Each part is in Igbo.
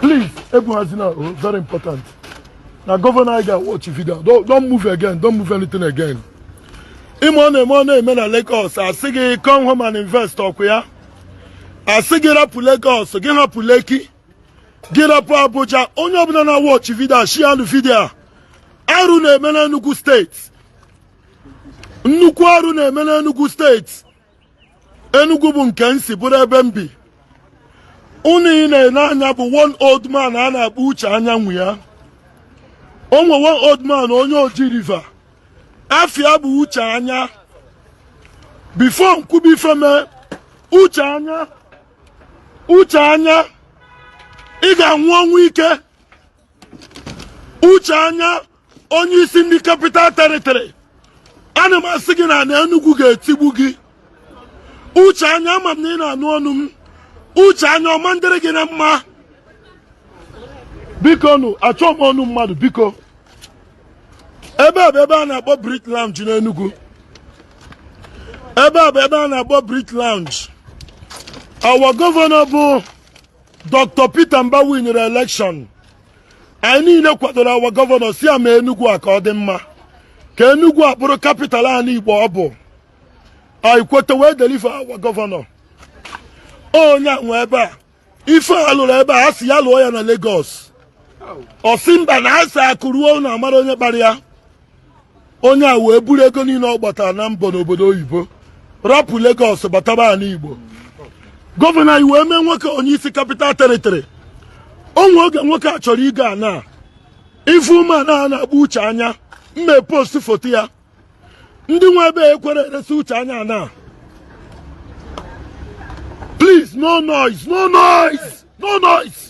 Please, ebuhazina, oh, very important. Now, Governor anyị ga-awatch vidio a, don't move again. Don't move anything again. Ime ọ na-eme ọ na-eme na Lagos a sị gị come home and invest ọkụ ya a sị gị rapụ Lagos gị hapụ Lekki gị rapụ Abuja onye ọbụla na-awatch vidio a share nụ vidio a arụ na-eme na Enugu steeti nnukwu arụ na-eme na Enugu steeti Enugu bụ nke m si bụrụ ebe m bi onye ị na-ene anya bụ one old man a na-akpọ uche anya nwanne ya o nwe one old man onye o ji riva afia bụ uche anya bifo m kwube ife me uche anya uche anya ị ga-anwụ ọnwụ ike uche anya onye isi ndị kapital teritori ana m asị gị na ana Enugu ga-etigbu gị uche anya ama m na ị na-anụ onu m uche anya ọ ma-adịrị gị na mma bikonụ achọ m onu mmadụ biko ebe a bụ ebe a na-akpọ Brit Lounge n'Enugu ebe a bụ ebe a na-akpọ Brit Lounge our gọvanọ bụ Dr. Peter Mbah winiri election anyị niile kwadoro awa gọvanọ sị ya mee Enugu a ka ọ dị mma ka Enugu a bụrụ kapital anyị Igbo ọ bụ anyị kweta wee deliver awa gọvanọ onye nwe ebe a ife a lụlụ ebe a a sị ya lụọ ya na Lagos ọ sị mba na a sị akụ ruo ụnọ a mara onye kpara ya onye a wee buru ego niile ọ gbatara na mbọ n'obodo oyibo rapụ Lagos bataba ana Igbo gọvanọ anyị wee mee nwoke onye isi kapital teritori o nwe oge nwoke a chọrọ ịgọ ana ife ume ana na-agba uche anya mme post foto ya ndị nwe ebe a ekwerọ eresi uche anya ana please no noise no noise no noise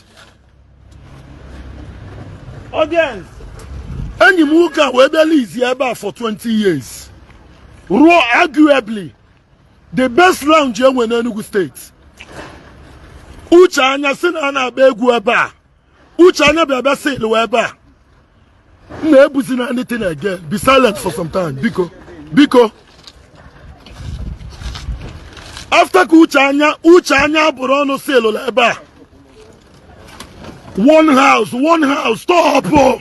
Audience. enyi m nwoke a wee bịa lizi ebe a for 20 years rụọ arguably the best lounge e nwe n'Enugu steeti uche anya sị na a na-agba egwu ebe a uche anya bịa bịa sịlụọ ebe a ụnụ ebuzina anything again be silent for some time biko biko after ka uche anya uche anya buru ọnụ silụla ebe a one house one house stop o.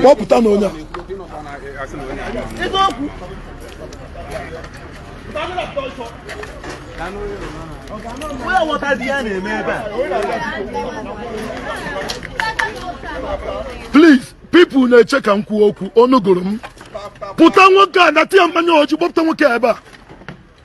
kpọpụta na onye please people na-eche ka m kwuo okwu ọnụ gụrụ m pụta nwoke a na tie mmanya ọjị kpọpụta nwoke a ebe a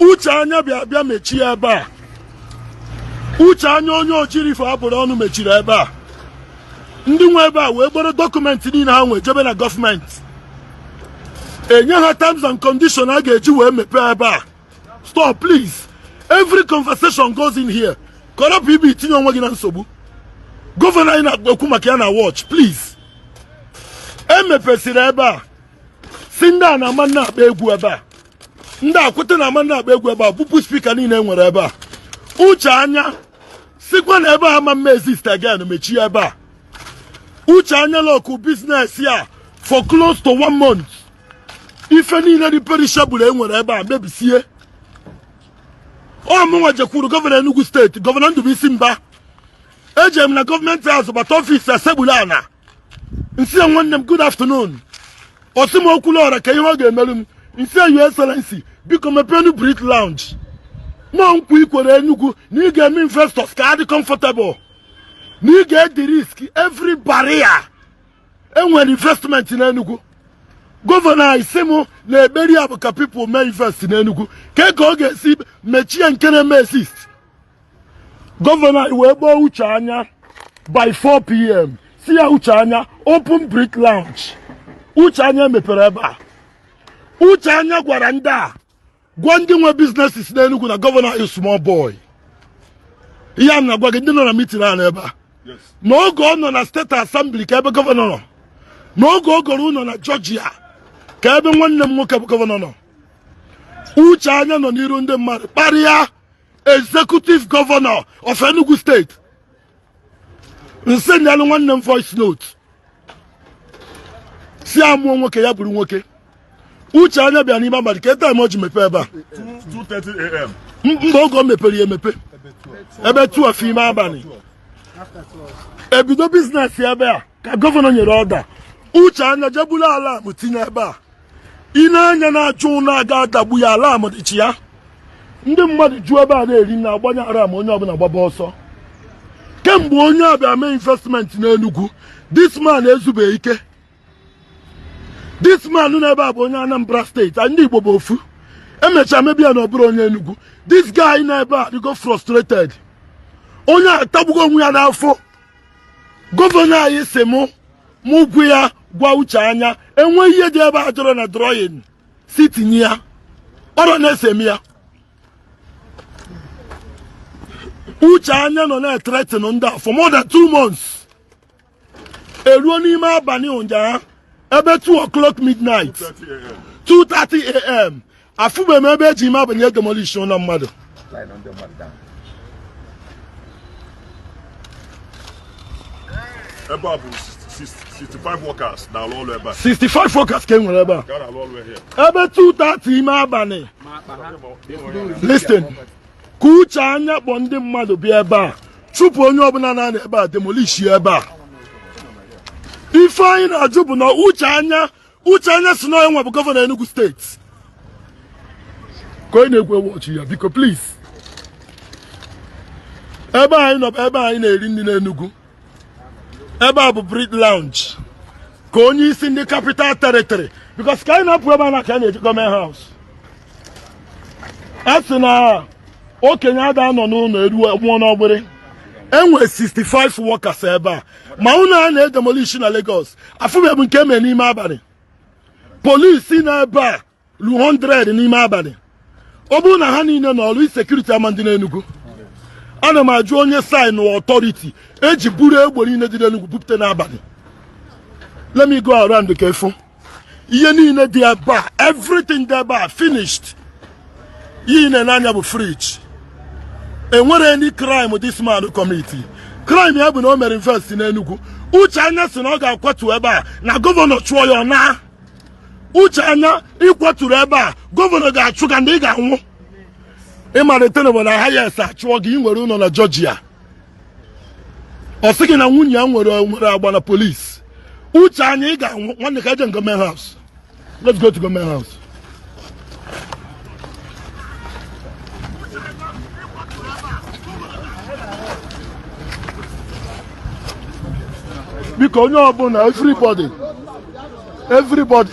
uche anya bịa bịa mechie ebe a uche anya onye ochirifo a bụrụ ọnụ mechiri ebe a ndị nwe ebe a wee kporo dọkụmentị niile ha nwee jebe na gọọmenti enye ha terms and condition a ga-eji wee mepee ebe a stop please every conversation goes in here kọrọpụ ibe itinye onwe gị na nsogbu gọvanọ anyị na-ekwu maka ya na-awatch please e mepesịrị ebe a sị ndị a na a ma na-akpọ egwu ebe a ndị a kweta na a ma na-akpọ egwu ebe a bupụ spika niile e nwere ebe a uche anya sịkwa na ebe a ama eme exist again mechie ebe a uche anya lọkụọ biznes ya for close to one month ife niile dị perishable e nwere ebe a mebisie ọ mụnwa jekwuru gọvanọ Enugu steeti gọvanọ Ndubuisi Mbah eje m na gọọmenti house bata ọfisi ya sekpulu ana m sị ya nwanne m good afternoon ọ sị m Okwuluora kee ihe ọ ga-emerụ m m sị ya your excellency biko mepenụ brick lounge na nkwa i kwere enugwu na ị ga-eme investors ka ha dị comfortable na ị ga-ederisk every barrier e nwere investment na enugwu gọvanọ anyị sị m na ekpere ya bụ ka pipụl mee invest n'enugwu kee ka ọ ga-esi mechie nke na-eme exist gọvanọ anyị wee kpọọ uche anya by 4 pm sị ya uche anya open brick lounge uche anya mepere ebe a uche anya gwara ndị a gwa ndị nwe biznesis n'enugwu na gọvanọ anyị small boy ihe a na-agwa gị ndị nọ na mitin a n'ebe a n'oge ọ nọ na steeti asembli kee ebe gọvanọ nọ n'oge ọ gọrọ ụlọ na jọjia kee ebe nwanne m nwoke bụ gọvanọ nọ uche anya nọ n'iru ndị mmadụ kparịa executive governor of Enugu State m sendialụ nwanne m voice note sị ya mụọ nwoke ya bụrụ nwoke uche anya bịa n'ime abalị kee taim o ji mepe ebe a mba oge o mepere ya e mepe ebe 12 ime abalị ebido biznes ebe a ka gọvanọ nyere ọda uche anya jee bulu alam tinye ebe a ị na-anya na-achụ ụlọ aga adagbu ya alam dịchi ya ndị mmadụ ju ebe a na-eri nri a gbanye alam onye ọbụla gbaba ọsọ kemgbe onye a bịa mee investment n'Enugu this man ezube ike this man nọ ebe a bụ onye Anambra steeti ndị Igbo bụ ofu e mecha mebi ya na ọ bụrọ onye Enugu this guy nọ ebe a dịgo frustrated onye a atagbugo onwe ya n'afụ gọvanọ anyị sị mụ mụ gwu ya gwa Uche Anya enwe ihe dị ebe a adịrọ na drawing sị tinye ya ọrụ na-ese m ya Uche Anya nọ na-ethreaten ndị a for more than two months eruo n'ime abalị ụnyaahụ ebe 2 o'clock midnight 2:30 a.m. afụbe m ebe eji ime abalị edemolish ụlọ mmadụ ebe a bụ 65 workers na-alụ ọrụ ebe a 65 workers ka e nwere ebe a ka a na-alụ ọrụ here ebe 2:30 ime abalị listen ka Uche Anya kpọ ndị mmadụ bịa ebe a chụpụ onye ọbụla na-anọ ebe a demolish ya ebe a ife anyị na-ajụ bụ na Uche Anya Uche Anya sị na ya nwa bụ gọvanọ Enugu State ka onye na-ekwu ewu ọchị ya biko please ebe anyị nọ bụ ebe anyị na-eri nri n'Enugu ebe a bụ Brick Lounge ka onye isi ndị capital territory because ka anyị na-apụ ebe a now ka anyị na-eje government house a sị na okenye ada anọ n'ụlọ ewu anwụọ n'ọgbịrị enwe 65 workers ebe a ma ụlọ a na-edemolishi na Lagos afụbe m nke e mere n'ime abalị police nọ ebe a ru 100 n'ime abalị ọ bụrụ na ha niile nọ ọrụ insecurity ama adị n'Enugu ana m ajụ onye saịnụ authority eji buru egbe niile dị n'Enugu bupụta n'abalị let me go around ka ị fụ ihe niile dị ebe a everything dị ebe a finished ihe ị na-ele anya bụ fridge enwere any crime this man commit crime ya bụ na o mere invest n'Enugu Uche Anya sị na ọ ga-akwatu ebe a na gọvanọ chụọ ya na Uche Anya ị kwaturu ebe a gọvanọ ga-achụ gị and ị ga-anwụ ị ma elute na obodo ahụ ị sị a chụọ gị ị nwere ụlọ na Georgia ọ sị gị na nwunye ya nwere nwere agba na police Uche Anya ị ga-anwụ nwanne ka e je government house let's go to government house biko onye ọbụla everybody everybody